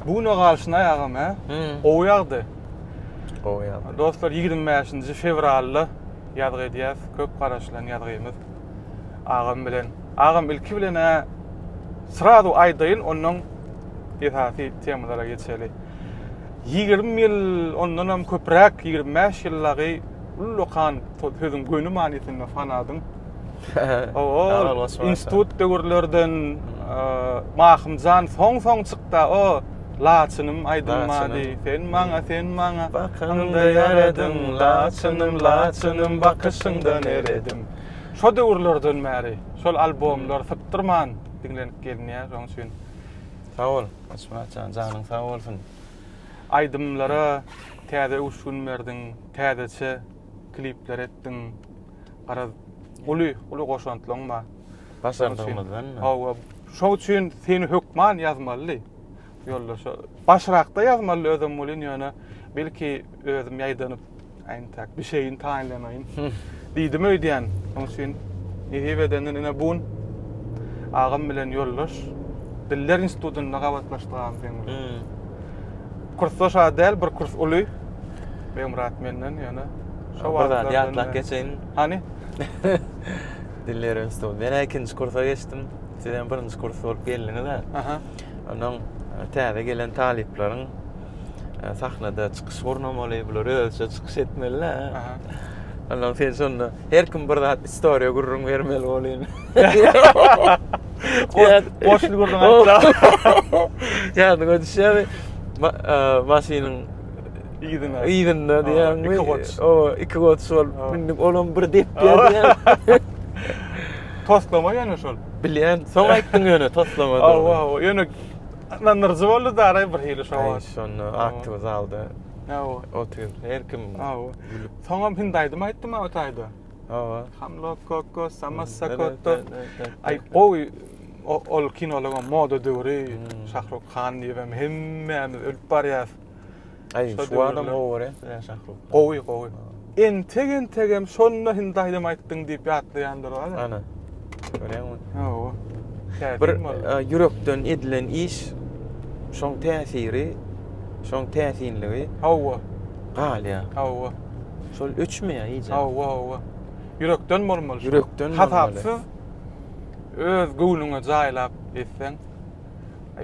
Bu güne galşynaý agam hä? Gowy ýagdy. Gowy ýagdy. Dostlar 25-nji fewralda ýazgy edýäs. Köp garaşylan ýazgymyz agam bilen. Agam ilki bilen ä srazu aýdaýyn, ondan esasy temalara geçeli. 20 ýyl, ondanam köpräk, 25 ýyllagy ullakan, sözüň göni manysynda fanadym. Institut döwürlerden Mahymjan soň-soň çykda o Laçynym aýdylmady sen maňa sen maňa Bakyňda ýaradyň Laçynym Laçynym bakyşyňdan eredim Şo döwürlerden bäri şol albomlar sypdyrman diňlenip gelinýär şoň üçin Sag bol Açmyratjan janyň sag bolsun Aýdymlara täze öwüşgin berdiň täzeçe klipler etdiň garaz uly uly goşantlaryň bar. Başardygymyzdanmy? Hawa, şoň üçin seni hökman ýazmaly. Ýoldaş, başrakda ýazmaly özüm bolýan ýöne belki özüm ýaýdanyp aýntak bir şeyin taýynlamaýyn. Diýdim öýdýän. Şoň üçin nesip edenden ine bu agam bilen ýoldaş Diller institutynda gabatlaşdyk agam seň bilen. Kursda şa däl bir kurs uly. Begmyrat menden ýöne. Şo wagt zat ýatlap geçeýin. Hany? Diller institut. Men ikinji kursa geçdim. Siz hem birinji kurs bolup geldiňiz-ä. Aha. Onuň e, täze gelen talyplaryň e, sahnada çykyş gurnamaly, bular özçe çykyş etmeli-ä. Aha. Ondan sen şonda Her kim bir zat istoriýa gürrüň bermeli bolýan. Boşly gürrüň aýtsa. Ýadyňa düşýärmi? Maşynyň ýüzüne. Ýüzünde diýýärmi? Iki goç. O, iki goç şol. Mündik olam bir dep diýýär. Toslama ýöne şol. Bilýän, soň aýtdyň ýöne toslama. Awa, awa. Ýöne nandyryjy boldy da araý bir hili şo. Aý, şonda aktiw zalda. Awa. Otyr. Her kim. Awa. Soňam hindi aýdym aýtdym o taýda. Hawa. Hamlo koko samassa kotto. Aý gowy ol kinolara moda döwri hmm. Şahruk Han diýibem hemmämiz ölüp barýas. Aý şu adam gowy ya Şahruk. Gowy gowy. Entek entek hem şonda hindi aýdym aýtdyň diýip ýatlaýandyr wala. Ana. Görýäňmi? Hawa. Bir ýürekden edilen iş şoň täsiri Şoň täsinligi. Hawa. Galýa. Hawa. Şol öçmeýä iýjä. Hawa, hawa. Ýürekden bolmaly. Ýürekden bolmaly. Hasapsyz öz göwnüňe jaýlap etseň.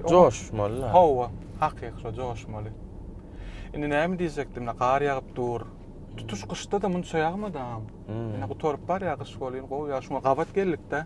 Joşmaly da. Hawa, hakyky şo joşmaly. Indi näme diýjekdim, gar ýagyp dur. Tutuş gyşda-da munça ýagmady agam. Indi gutaryp barýa gyş boluny gowy ýa şuňa gabat geldik-de.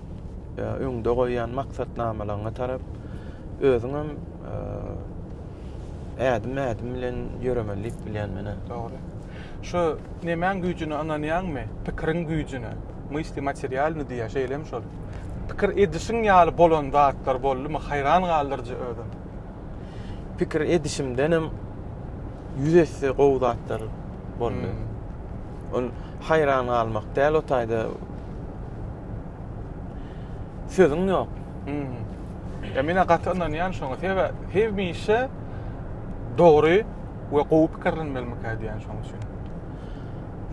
ýa öňde goýýan maksatnamalaryňa tarap özüň hem ädim ädim bilen ýöremeli diýip bilýän menä. Dogry. Şu nemäň güýjüne ynanýaňmy? Pikiriň güýjüne. Mysli materialny diýýär, şeýlemi şol? Pikir edişiň ýaly bolan zatlar boldumy? Haýran galdyryjy özem. Pikir edişimden hem ýüz esse gowy zatlar boldy. Hmm. Ol haýran galmak däl o taýda Sözüň ýok. Ýa men gaty ynanýan şoňa. Sebäbi hemişe dogry we gowy pikirlenmelimikä diýen şoň üçin.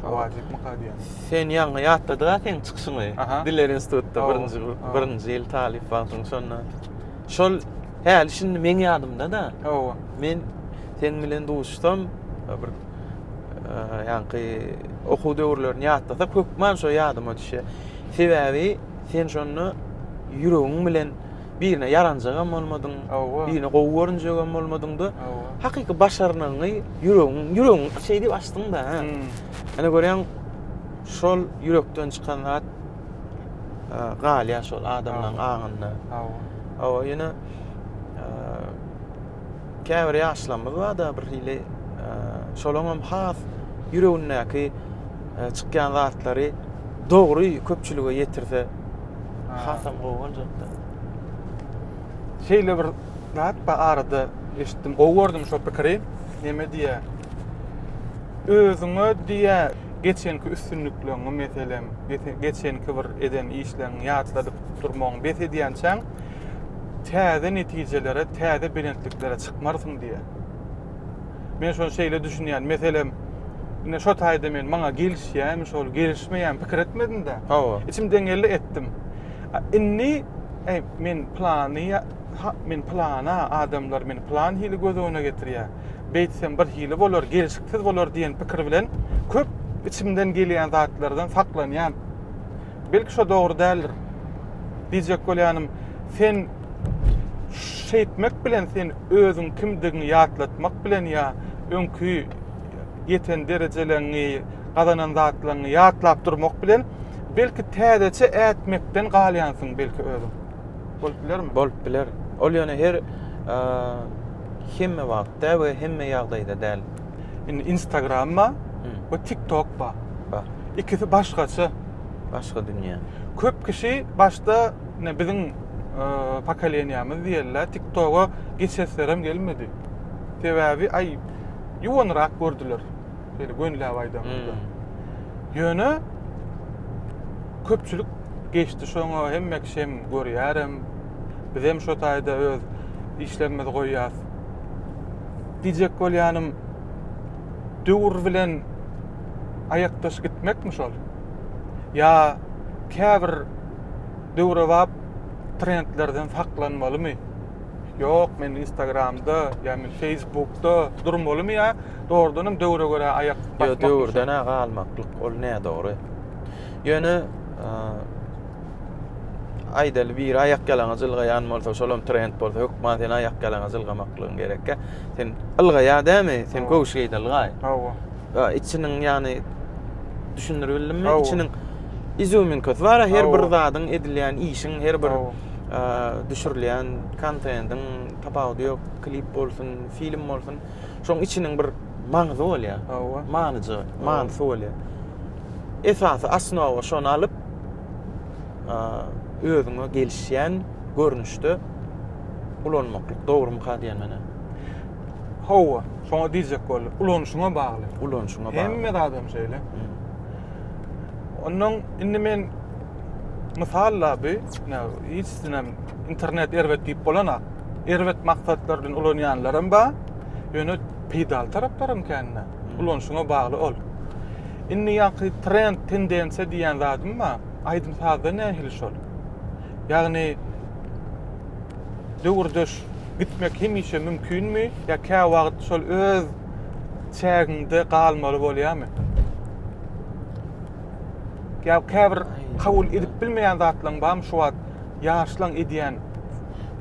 Wajypmyka diýen. Sen ýaňy ýatladyga seň çykyşyňy. Diller institutda birinji birinji ýyl talyp wagtyň şonda. Şol häli şindi meň ýadymda-da. Men sen bilen duşsam bir ýaňky okuw döwürlerini ýatlasak, hökman şo ýadyma düşýär. Sebäbi sen şonda ýüregiň bilen birine ýaranjak hem bolmadyň, birine gowy görünjek hem bolmadyň-da, hakyky başarnygyňy ýüregiň, ýüregiň şeý diýip açdyň-da. Ene hmm. görýäň, şol ýürekden çykan zat galýar şol adamlaryň aňynda. Hawa. Hawa, ýene Käbir ýaşlarymyz bar-da bir hili şolaňam has ýüregindäki çykýan zatlary dogry köpçülige ýetirse hasam gowy boljak-da. Şeýle bir zat bar arada eşitdim, gowy gördüm şo pikiri. Neme diýýär? Özüňe diýýär, geçenki üstünlikleriňi meselem, geçenki bir eden işleriňi ýatladyp durmagyňy bes edýänçäň, täze netijelere, täze belentliklere çykmarsyň diýýär. Men şony şeýle düşünýän, meselem, ine şo taýda men maňa gelişýämi, şol gelişmeýämi pikir etmedim-de. Hawa. Içimden geldi etdim. Indi e, men plany men plana adamlar meni plan hili göz öňüne getirýär. Beýtsem bir hili bolar, gelişiksiz bolar diýen pikir bilen köp içimden gelýän zatlardan saklanýan. Belki şo dogry däldir. Diýjek bolýanym, sen şeýtmek bilen sen özüň kimdigiňi ýatlatmak bilen ýa öňki ýeten derejeleriňi, gazanan zatlaryňy ýatlap durmak bilen belki täzeçe ätmekden galýansyň belki özüň. Bolup bilermi? Bolup biler. Ol ýöne her hemme wagtda we hemme ýagdaýda däl. Indi Instagram bar we TikTok bar. Bar. Ikisi başgaça. Başga dünýä. Köp kişi başda ne biziň e, pokoleniýamiz diýerler, TikToga geçeslerem gelmedi. Sebäbi aý ýuwanrak gördüler. Şeýle gönläp aýdamyzda. Hmm. Ýöne köpçülik geçdi şoňa, hemme kişi hem görýärem. Biz hem şo taýda öz işlerimizi goýýas. diýjek bolýanym, döwür bilen aýakdaş gitmekmi şol? Ýa käbir döwrebap trendlerden saklanmalymy? Ýok, men Instagramda, ýa men Facebookda durmalymy ýa dogrudanam döwre görä aýak basmakmy? Ýok, döwürden-ä galmaklyk ol nädogry. Ýöne aýdaly biri aýak ýalaňaç ylgaýan bolsa, şolam trend bolsa, hökman sen aýak ýalaňaç ylgamaklygyň gerekkä. Sen ylgaýa dämi? Sen göwüş geýdi ylgaý. Hawa. Ha, içiniň ýany düşündirip bildimmi? Içiniň izýuminkasy bar, her bir zadyň edilýän işiň, her bir düşürilýän kontendiň tapawudy ýok. Klip bolsun, film bolsun. Şoň içiniň bir maňzy bolýar. Hawa. Manyja, manysy bolýar. esasy osnowa şony alyp özüňe gelişýän görnüşde ulanmaklyk dogrumyka diýen menä Hawa, şoňa diýjek boldum. Ulanyşyňa bagly. Ulanyşyňa bagly. Hemme adam şeýle. Ondan indi men mysal da bu, hiç sinem internet erbet diýip bolanok. Erbet maksatlar bilen ulanýanlar hem bar. Ýöne peýdaly taraplaram kände. Ulanyşyňa bagly ol. Indi ýaňky trend, tendensiýa diýýän zadym bar. Aýdym-sazda nähili şol. Ýagny döwürdeş gitmek hemişe mümkinmi ýa käwagt şol öz çägiňde galmaly bolýarmy? Ýa käbir kabul edip bilmeýän zatlaryň barmy şu wagt ýaşlaň edýän?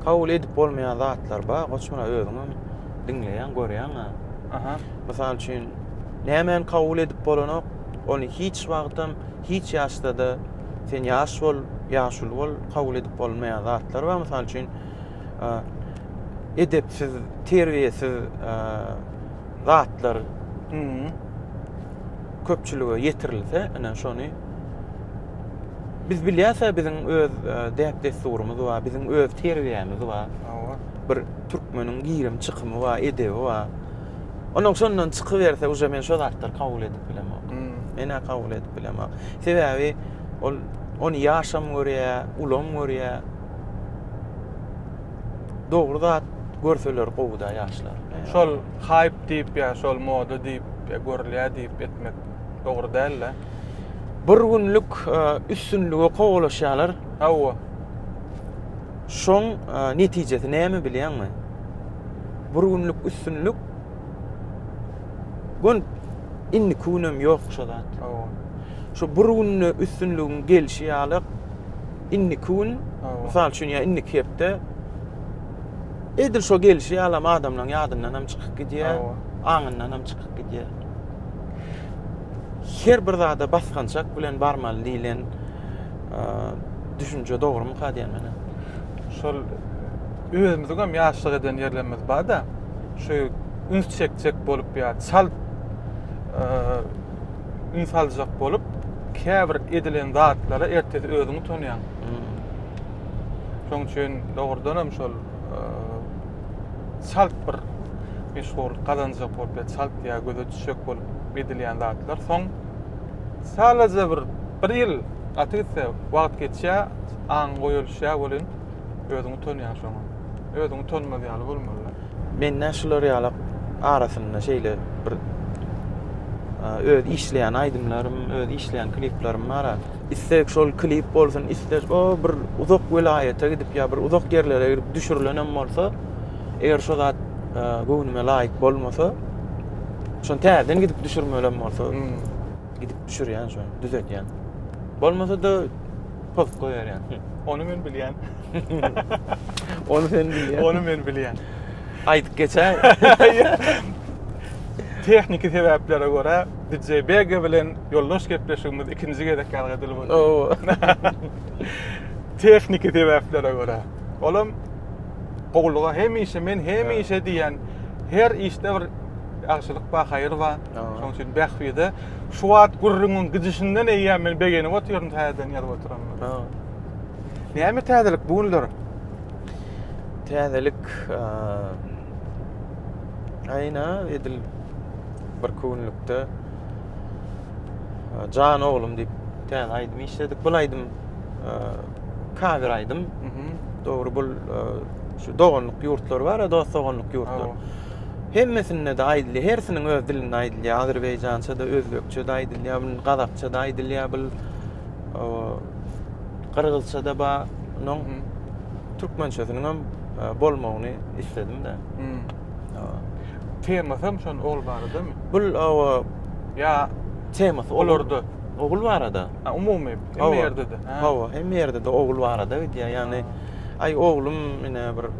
Kabul edip bolmaýan zatlar bar, goç muny özüňem diňleýäň, görýäň-ä. Aha. Mysal üçin, nämäni kabul edip bolanok, ony hiç wagtam, hiç ýaşda-da, sen ýaş bol, ýaşuly bol, kabul edip bolmaýan zatlar bar. Mysal üçin, edepsiz, terbiýesiz zatlar köpçülige ýetirilse, ine şony biz bilýäs-ä biziň öz däp-dessurymyz bar, biziň öz terbiýämiz bar. Hawa. Bir Türkmeniň girimi çykymy bar, edebi bar. Onuň şondan çykyberse, uje men şo zatlary kabul edip bilemok. Hmm. Men-ä kabul edip bilemok. Sebäbi ol ony ýaşam görýär, ulam görýär. Dogry zat görseler gowy-da ýaşlar. Şol haýp diýip, ýa şol moda diýip, ýa görülýär diýip etmek dogry däl-de. Bir günlük e, üstünlige kowalaşýarlar. Hawa. Şoň netijesi näme bilýäňmi? Bir günlük üstünlik Gün indiki gün hem ýok şu zat. Şu bir günde üstünligiň gelşi ýaly indiki gün, mysal üçin ýa indiki hepde edil şo gelşi ýalam adamlaryň ýadyndan hem çykyp gidýär, aňyndan hem çykyp gidýär. Her bir zada basgançak bilen barmaly diýlen düşünje dogrumyka diýen menä. Şol özümiziň hem ýaşlyk eden ýerlerimiz bar-da, şu üns çekjek bolup ýa çal üns aljak bolup, käbir edilen zatlara ertesi özüňi utanýaň. Şoň üçin dogrudan hem şol çalt bir meşhurlyk gazanjak bolup ýa çalt ýa göze düşjek bolup edilýän zatlar soň Sadajä bir bir ýyl gaty gitse wagt geçýä aň goýalyşýa welin özüňi tanýaň şoňa özüňi tanymaz ýaly bolmalyda. Mende şular ýala arasynda şeýle bir öz işleýän aýdymlarym öz işleýän kliplerim bar a. Isleg şol klip bolsun isleg o bir uzak welaýata gidip ýa bir uzak ýerlere gidip düşürilenem bolsa eger şo zat göwnüme laýyk bolmasa şony täzeden gidip düşürmelem bolsa Gidip düşürýän şony, düzetýän. Bolmasa-da post goýarýan. Ony men bilýän. Ony sen bilýän. Ony men bilýän. Aýdyp geçäý. Tehniki sebäplere görä DJ Bega bilen ýoldaş gepleşigimiz ikinji gezek ýazgadylyp boldy. Oo. Tehniki sebäplere görä. Olam gowulyga hemişe men hemişe diýen her işde bir ýagşylyk bar, haýyr bar. Şonuň üçin bähbide şu wagt gürrüňiň gidişinden eýýäm men begenip otyryn täzeden ýazyp oturanlara. Näme täzelik bu günler? Täzelik aýna edil bir künlükde Jan oglum diýip täze aýdym işledik. Bu aýdym kawer aýdym. Dogry bu şu doganlyk ýurtlar bar, dost doganlyk ýurtlar. Hemmesinde-de aýdylýar, hersiniň öz dilinde aýdylýar. Azerbaýjança-da, özbekçe-de aýdylýar, bul gazakça-da aýdylýar, bul gyrgyzça-da bar. Onuň türkmençesiniň hem e, bolmagyny isledim-de. Temasy hem şon ol baradamy? Bul ýa temasy olarda ogul barada. Ha, umumy hemme ýerde-de. Hawa, hemme ýerde-de ogul barada gidýär. Ýagny, aý oglum, ine bir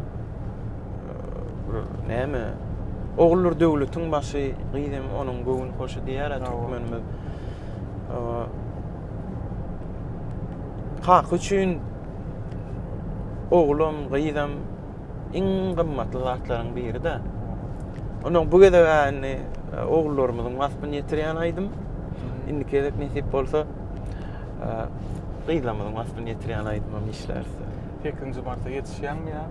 bir näme Ogullar döwletiň başy, gyz hem onuň göwün hoşy diýýär-ä türkmenimiz. Kaka üçin oglam, gyzam iň gymmatly zatlaryň biri-de. Onda bu gezek indi ogullarymyzyň waspyny ýetirýän aýdym. Indiki gezek nesip bolsa gyzlarymyzyň waspyny ýetirýän aýdymam işläris. 8-nji marta ýetişýäňmi ýa?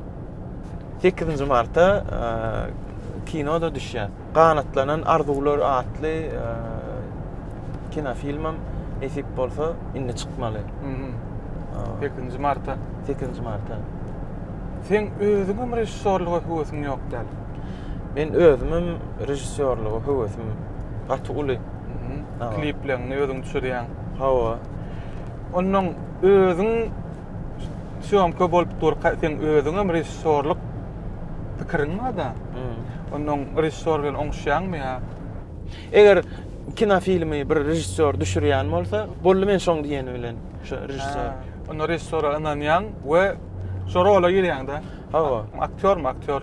8-nji martda kinoda düşýär. Ganatlanan arzuwlar atly kinofilmem nesip bolsa indi çykmaly. 8-nji martda. 8-nji martda. Sen özüňem režissýorlyga höwesiň ýok däl. Men özümem režissýorlyga höwesim gaty uly. Klipleňňi özüň düşürýäň. Hawa. Onnoň özüň Sýomka bolup dur, sen özüňem režissýorlyk pikiriň barda. Ondan režissýor bilen oňuşýaňmy ýa? Eger kino filmi bir režissýor düşürýän bolsa, boldy men şoň diýeni bilen şu režissýor. Onda režissýora ynanýaň we şo rola girýäň-de. Hawa. Aktýormy, aktýor.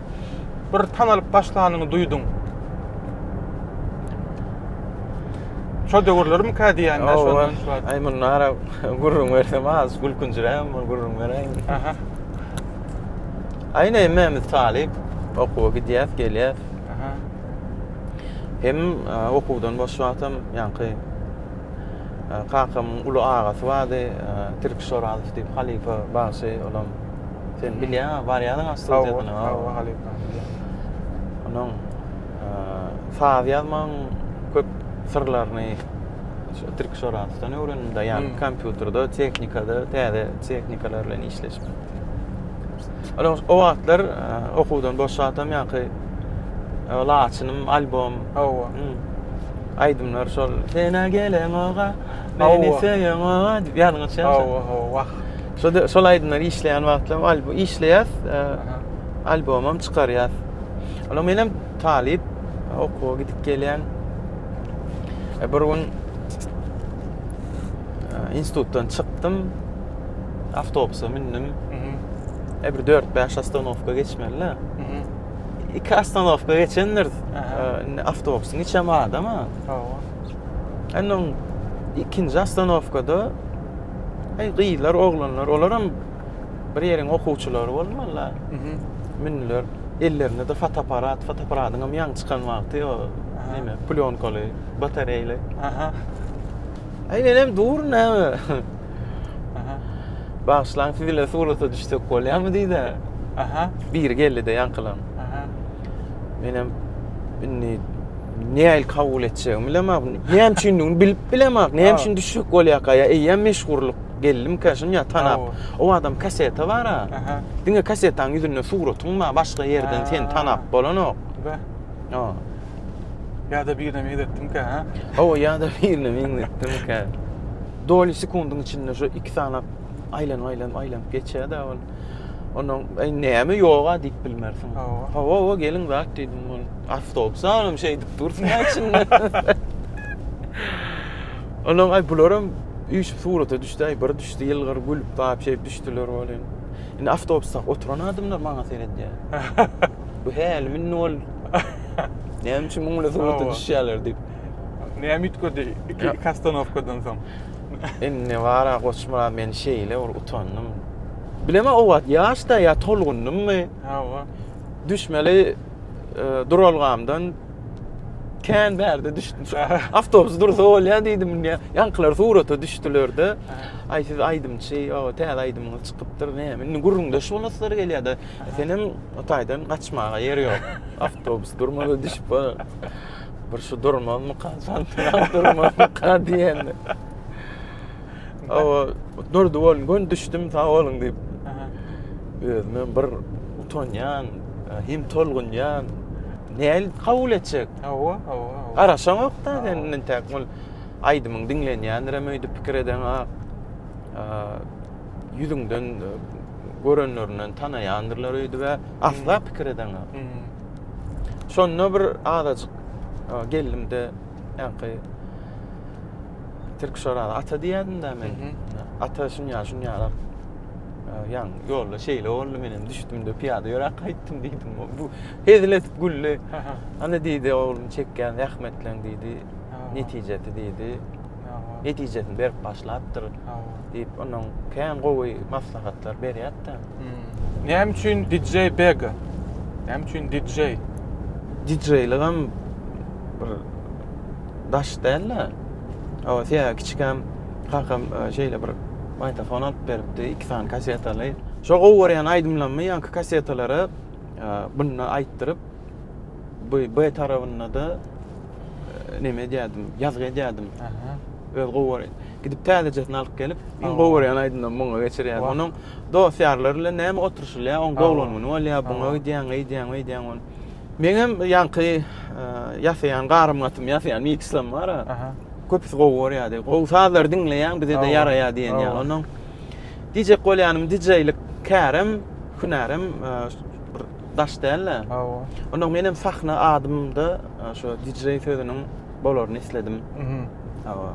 bir tanalyp başlanyňy duýduň. Şo döwürlerim kä diýýän de şo. Aý muny ara gürrüň bersem az gülkünjiräm muny gürrüň bereýin. Aha. Aý ne memiz talyp okuwa gidýäs gelýäs. Aha. Hem okuwdan boş wagtym ýaňky kakamyň uly agasy bardy, Tirki Şorazow diýip halypa bagşy olam Sen bilýäňä barýadyň astrotekaga. Hawa, hawa halypa, bilýän. Onuň saz ýazmagyň köp syrlaryny şu Türk Şorasowdan öwrendim-de, ýagny kompýuterde, tehnikada, täze tehnikalar bilen işleşip. Ol o wagtlar e, okuwdan boşadam ýaňky e, laçynym albom. Hawa. Aýdymlar şol. Senä gelen oga, meni söýen oga diýip ýadyňa düşýärmi? Hawa, hawa, wah. Şo-da şol aýdymlary işleýän wagtlaram albo işleýäs, albomam çykarýas. Olam menem talyp, okuwa gidip gelýän. E, bir gün institutdan çykdym, awtobusa mündim. E, bir 4-5 ostanowka geçmeli-le. Iki ostanowka geçendir, e, awtobusyň içem adam-a. Hawa. Ondan ikinji ostanowkada Hey gyzlar, oglanlar, olaram bir ýeriň okuwçylary bolmalylar. Mhm. Mündiler. Ellerinde de fotoapparat, fotoapparatyň hem ýaňy çykan wagty o näme, plýonkaly, batareýli. Aha. Hey men hem durun näme? Aha. Bagyşlaň siz bilen surata düşsek bolýamy diýdi. Aha. Biri geldi-de ýaňkylan. Aha. Men hem indi Nähili kabul etjegimi bilemok. Näme üçindigini bilip bilemok. Näme üçin düşek bolýarka ýa eýýäm meşhurlyk geldimkä şum ýa tanap. O adam kaseta bar-a. Diňe kasetanyň ýüzünde suratyň bar, başga ýerden seni tanap bolanok. Ýa. Ýa-da birine meňzetdimkä, ha? Hawa, ýa-da birine meňzetdimkä. Doly sekundyň içinde şu iki sany aýlanyp aýlanyp aýlanyp geçýär da ol. Ondan eý näme ýoga diýip bilmersiň. Hawa. Hawa hawa geliň zat diýdim ol. Awtobus alam şeý diýip dursun içinde. Ondan aý bularam üýşüp surata düşdi aý bir düşdi ýylgyr gülüp bap şeýip düşdüler ol indi. Indi awtobusda oturan adamlar maňa seredýär. Bu häli mindi ol. Näme üçin muňla surata düşýärler diýip. Näme üýtgedi iki, iki ostanowkadan soň? Indi bara Goçmyrat men şeýle bir utandym. Bileme o wagt ýaşda ýa tolgundymmy? Hawa. Düşmeli e, duralgamdan kän bärde düşdüm. Awtobus dursa bolýar diýdim indi. Ýaňkylar surata düşdülerde. Aý siz aýdymçy, o täze aýdymyňyz çykypdyr. Näme? Indi gürrüňde şu naslar gelýär-de. Senem o taýdan gaçmaga ýer ýok. Awtobus durmasa düşüp bar. Bir şu durmazmyka, santyram durmazmyka diýende. Awa, durdy bolun, gön düşdüm, sag bolun diýip. Özüme bir utanýan, hem tolgunýan. Näl kabul etjek? Awa, awa, awa. Garaşaňok-da, sen intäk bol. Aýdymyň diňlenýändirem öýdüp pikir edeňok. Ýüzüňden görenlerinden tanaýandyrlar öýdübe asla pikir edeňok. Şonda bir azajyk gellimde ýanky Türk şorada ata diýýändimde men. Ata şunýa şunýa ýan ýolda şeýle boldy menem düşdümde piýada ýöräp gaýtdym diýdim. Bu hezil edip güldi. Ana diýdi oglum çekýän zähmetleň diýdi. Netijesi diýdi. netijesini berip başlapdyr diýip onuň kän gowy maslahatlar berýärdi. Hmm. Näme üçin DJ Bega? Näme üçin DJ? DJ'ligem bir daş däl-de. Awa, sen kiçikäm kakam e, şeýle bir magnitofon alyp beripdi, iki sany kasetaly. Şo gowy görýän aýdymlarymy ýaňky kasetalara e, bundan aýtdyryp, bu B tarabynda da neme edýärdim, ýazgy edýärdim. Öz gowy gidip täzejesini alyp gelip, iň gowy görýän aýdymymy muňa geçirýärdim. Onuň dost-ýarlar bilen näme oturyşylýar, oň doglan güni bolýar, buňa gidýäň, eýdýäň, beýdýäň ony. Meňem ýaňky e, ýasaýan garym gatym ýasaýan mikslem bar. Köpüsi gowy görýärdi. Gowy sazlary diňleýäň, bize-de ýaraýar diýen ýaly. Onuň diýjek bolýanym, dijeýlik kärem, hünärem e, Daş däl-ä. Hawa. Onda menem sahna adymda şu DJ sözüniň bolaryny isledim. Mhm. Hawa.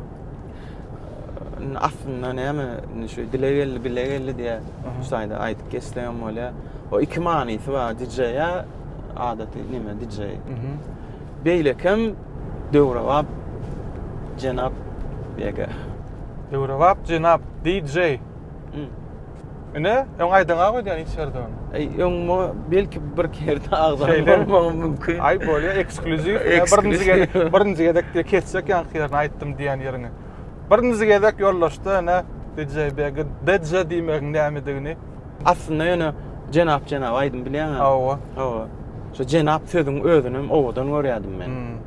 Indi aslynda näme, indi şu dile geldi, bile geldi diýä. Şu taýda aýdyp geçsek hem bolýar. O iki manysy bar, DJ-ä adaty neme DJ. Mhm. Beýlekem döwrebap jenap ýeke. Döwrebap jenap DJ. Ine, öň aýdaňa goý diýen içerden. Eý, öň mu belki bir kerde agzan bolmagy mümkin. Aý, bolýa, ekskluziw. Birinji gezek, birinji gezek diýip kesjek ýaňky ýerini aýtdym diýen ýeriňi. Birinji gezek ýoldaşda ene DJ Begi DJ diýmegiň nämedigini. Aslynda ýöne jenap-jenap aýdym bilýäňä. Hawa. Hawa. Şu jenap sözüň özünem owadan görýädim men.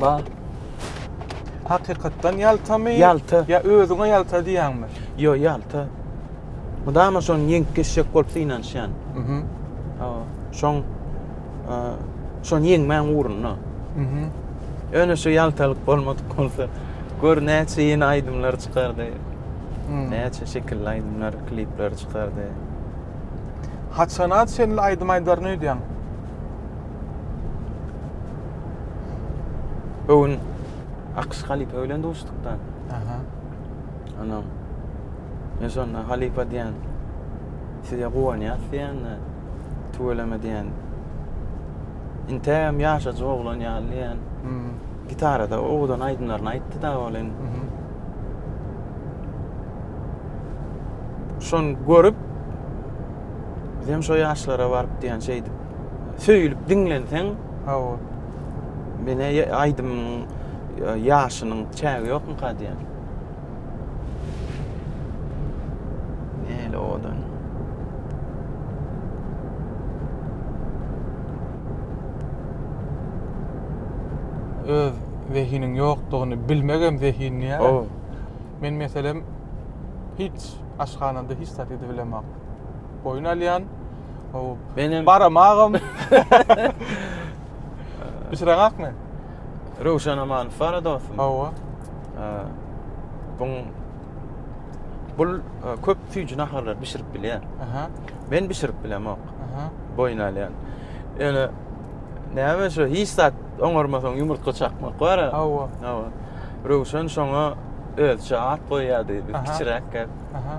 Bar. Hakykatdan ýaltamy? Ýalta. Ýa özüňe ýalta diýýäňmi? Ýo, ýalta. Mydama şony ýeňip geçjek bolup synanyşýan. Mhm. Hawa. Şoň e, şony ýeňmäň ugrunda. Mhm. Ýöne şu ýaltalyk bolmadyk bolsa, gör näçe ýene aýdymlar çykardy. Hmm. Näçe şekilli aýdymlar, klipler çykardy. Haçana çenli aýdym aýdaryn öýdýäň? Öwün Akyş halypa bilen duşdukda. Aha. Anam. Men şonda halypa diýen. Size guwanýas diýen. Tüweleme diýen. Intem ýaşajy oglan ýaly diýen. Hmm. Gitarada owadan aýdymlaryny aýtdy da ol indi. Mhm. Şony görüp, bizem şo ýaşlara baryp diýen şeýdip. söýülip diňlenseň hawa menä aýdymyň ýaşynyň çägi ýokmyka diýýän öz zehiniň ýokdugyny bilmek hem zehin diýýär. Ow. Men meselem hiç aşhanada hiç zat edip bilemok. Boýun alýan, Menem baramagam. Bişiren akmy? Röwşen Amanow bar dostum. Hawa. Bun bul köp süýji naharlar bişirip bilýär. Aha. Men bişirip bilemok. Aha. Boýun alýan. Ýöne näme şu hiç zat oňarmasaň ýumurtga çakmak bar. Hawa. Hawa. Röwşen şoňa özçe at goýýardy. Kiçiräk gep. Aha.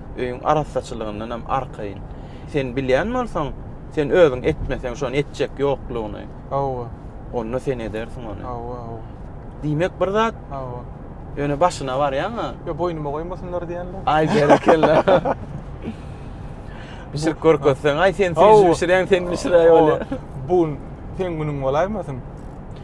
Öýüň arassaçylygyndan hem arkaýyn. Sen bilýän bolsaň, sen özüň etmeseň, şony etjek ýoklugyny. Hawa. Onda sen edersiň ony. Hawa, hawa. Diýmek bir zat. Hawa. Ýöne başyna barýaň-a. Ýa boýnuma goýmasynlar diýendir. Aý berekella. Bişirip görkezseň, aý sen sen bişiräýiň, sen bişiräý bolýar. Bu gün seň günüň bolaýmasyn.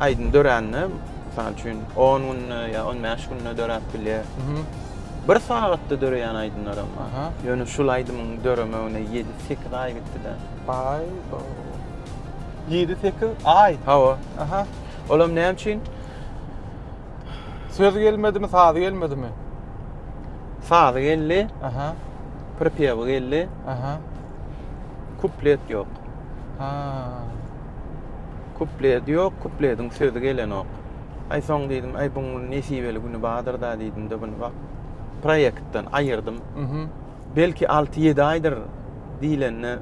Aýdym dörände, mysal üçin, on günde ýa on bäş günde döräp bilýär. Bir sagatda döreýän aýdymlaram bar. Ýöne şul aýdymyň döremegine ýedi-sekiz aý gitdi-de. Aý-bo. Ýedi-sekiz aý? Hawa. Aha. Olam näme üçin? Sözi gelmedimi, sazy gelmedimi? Sazy geldi. Aha. Pripewy geldi. Aha. Kuplet ýok. Ha. Kuplet ýok, kuplediň sözi gelenok. Aý soň diýdim, aý buň nesibeli güni bardyr-da diýdim-de buny wah, proýektden aýyrdym. Belki alty-ýedi aýdyr diýlende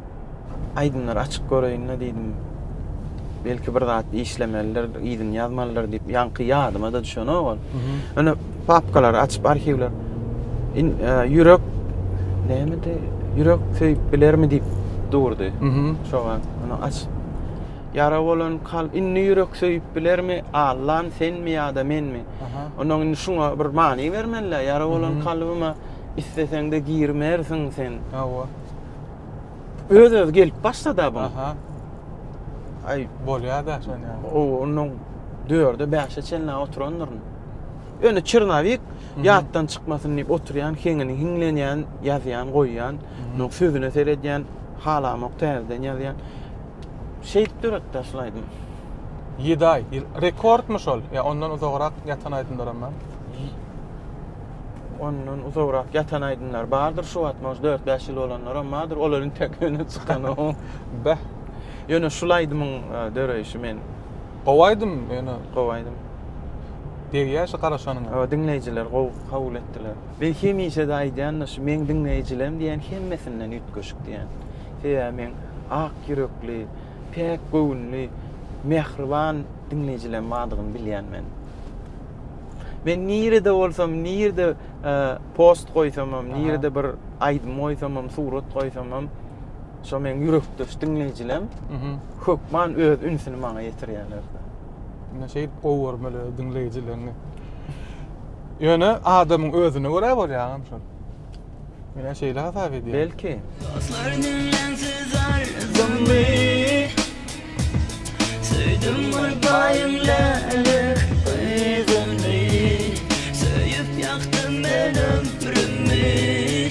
aýdymlary açyp göreýin-le diýdim. Belki bir zat işlemelidir, yzyny ýazmalydyr diýip, ýaňky ýadyma-da düşenok ol. Ine, papkalary açyp arhiwler in e, ýürek nämedi ýürek söýüp bilermi diýip durdy şoňa ony aç ýara bolan kalp indi ýürek söýüp bilermi allan senmi ýa-da menmi ondan indi şuňa bir many bermelä ýara bolan kalbyma isleseňde girmersiň sen hawa öz öz gelip başlady bu aý bolýar-da şonda o ondan dörde beşe çenli oturandyryn Ýöne çernowik ýatdan çykmasyn diýip oturýan, heňini hiňlenýän, ýazýan, goýýan, onuň sözüne seredýän, halamok täzeden ýazýan. Şeýdip döretdiler şol aýdymy. Ýedi aý. Rekordmy şol? Ýa ondan uzagrak ýatan aýdymlaram bar? Ondan uzagrak ýatan aýdymlar bardyr şu wagt, może dört, bäş ýyl bolanlaram bardyr. Olar intäk öne çykanok. Beh. Ýöne şul aýdymyň e, döreýşi men Gowy aýdym ýöne. Gowy aýdym. Degýär şu garaşanyňa. Hawa diňleýjiler gowy kabul etdiler. Men hemişede aýdýanda şu meň diňleýjilerim diýen hemmesinden üýtgeşik diýen. Sebäbi meň ak ýürekli, päk göwünli, mähriban diňleýjilerim bardygyny bilýän men. Men nirede bolsam, nirede post goýsamam, nirede bir aýdym goýsamam, surat goýsamam, Şo meň ýürekdeş diňleýjilem hökman öz ünsüni maňa ýetirýärler. Ine şeýdip gowy görmeli öz diňleýjileriňi. Ýöne adamyň özüne görä bolýar agam şol. Menä şeýle hasap edýän. Belki. Dostlar diňlensiz arzumy Söýdüm bir baýyň lälik gyzyny Söýüp ýakdym men ömrümi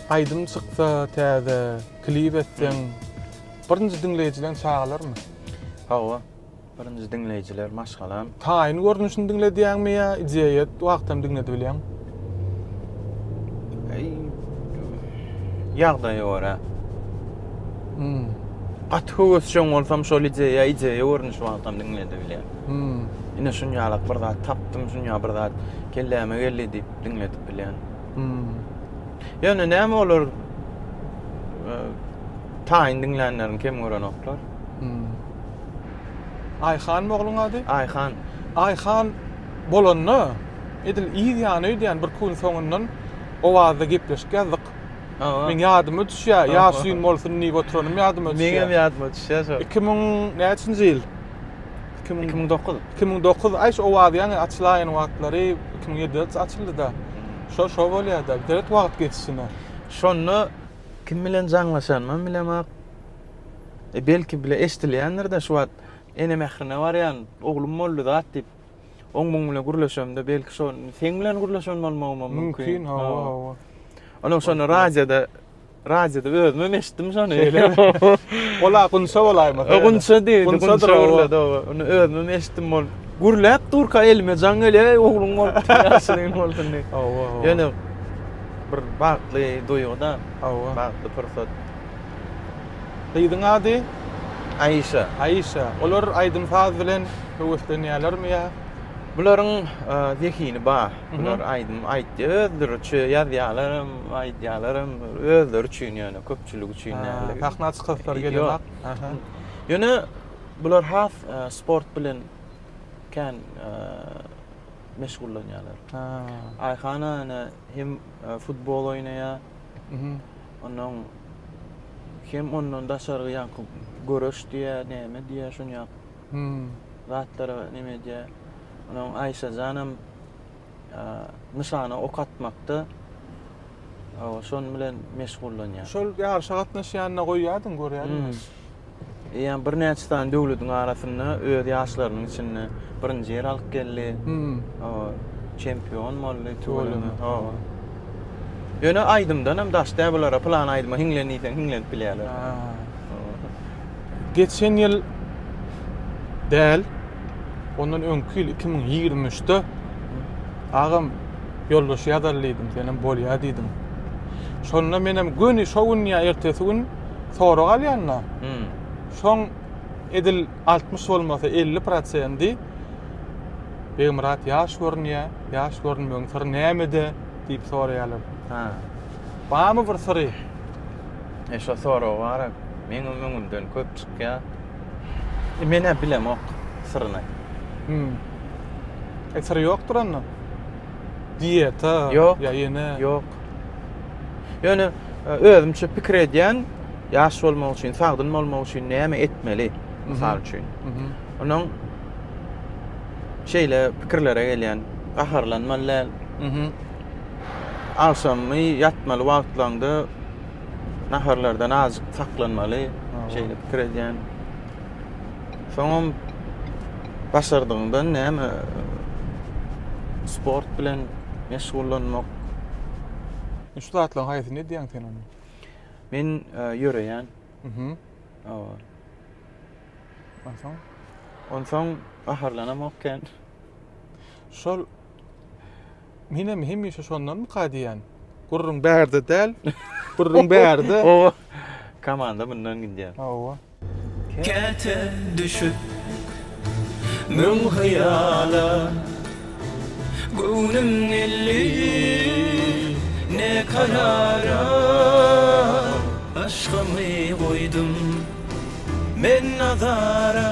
Aýdym çyksa täze, klip etseň, birinji diňleýjileň çagalarmy? Hawa, birinji diňleýjiler maşgalam. Taýyn görnüşini diňledýäňmi ýa ideýa wagtam diňledibilýäň? Ýagdaýa görä. Gaty höwesjeň bolsam şol ideýa, ideýa görnüşi wagtam diňledibilýän. Ine şunýalak bir zat tapdym, şunýa bir zat kelläme geldi diýip diňledip bilýän. Hmm. Ýöne näme olar e, taýyn diňlänlerini kem görenoklar. Hmm. Aýhan ogluň ady? Aýhan. Aýhan bolanda edil yz ýany öýdýän bir gün soňundan owazda gepleşik ýazdyk. Aha. Men ýadyma düşýär, Aha. ýaşyn bolsun diýip oturanym ýadyma düşýär. Meňem ýadyma düşýär şol. 2000 näçinji ýyl? Iki müň müň dokuz. Iki müň dokuz aý şu owaz ýaňy açylaýan wagtlary iki müň ýedideç açyldyda. Şo şo bolýada biderek wagt geçişine. Şonda kim bilen jaňlaşanymam bilemok. E belki bile eşdilýändirde şu wagt ene mährine barýan oglum boldy zat diýip. Oň muň bilen gürleşemde belki şo seň bilen gürleşen bolmagymam mümkin. Mümkin hawa hawa. Onuň şonda radioda Radioda özümem eşitdim şony. Ola gunça bolaýmasa. Gunça diýdi, gunça gürledi. Ony özümem eşitdim ol. Gürläp durka elime jaň gelýär, eý ogluň bolupdy, ýaşulyň bolsun diýip. Hawa. Ýöne bir bagtly duýgy-da. Hawa. Bagtly pursat. Gyzyň ady? Aişa. Aişa. Olar aýdym-saz bilen höweslenýärlermi ýa? Bularyň zehini bar. Bular aýdym aýtdy özleriçe ýazýalaram, aýdýalaram özleri üçin ýöne köpçülik üçin däldi. Sahna çykyşlary gelen wagt. Ýöne bular has sport bilen kän meşgullanýarlar. Aýhan ana hem futbol oýnaýar. Onuň hem ondan daşary ýaňky göreş diýýär, näme diýýär şuny ýap. zatlara neme edýär. Onuň Aýşajanam nyşana ok atmakda şon bilen meşgullanýar. Şol ýaryşa gatnaşýanyna goýýardyň, görýärdiňiz. Eýýäm birnäçe sany döwletiň arasynda öz ýaşlarynyň içinde birinji ýer alyp geldi. Hawa, çempion boldy tuweleme. Hawa. Ýöne aýdymdanam daşda bulara pylan aýdyma hiňlen diýseň hiňlenip bilýärler. geçen ýyl däl, ondan öňki ýyl 2023-de agam ýoldaş ýazaly diýdim, senem bolýa diýdiň. Şonda menem göni şo gün ýa ertesi gün sorag alýan-da. Hmm. Şoň edil 60 bolmasa 50 prosendi Begmyrat ýaş görünýär, ýaş görünmegiň syry nämede diýip soraýarlar. Ha. Barmy bir syry? E şo sorag bara meňem öňümden köp çykýa. E menä bilemok syryny. Hüm. E syry ýokdur onda? Diýeta Ýok. ýa ýene? Ýok. Ýöne e, özümçe pikir edýän, ýaş bolmak üçin, sagdyn bolmak üçin näme etmeli? Mysal üçin. Mhm. Onuň şeýle pikirlere gelýän, gaharlanmaly däl. Mhm. Agşamky ýatmaly wagtlaňda naharlardan azjyk saklanmaly, şeýle pikir edýän. Soňam başardygyňdan näme sport bilen meşgullanmak. Şu zatlaryň haýsyny edýäň sen onda? Men ýöreýän. Mhm. Hawa. Onsoň? Onsoň gaharlanamok kän. Şol Menem hemişe şondanmyka diýýän. Gürrüň bärde däl. Gürrüň bärde. Hawa. Komanda mundan gidýär. Hawa. Käte düşüp müň hyýala, Göwnüm geldi ne karara, Aşkymy goýdum men nazara.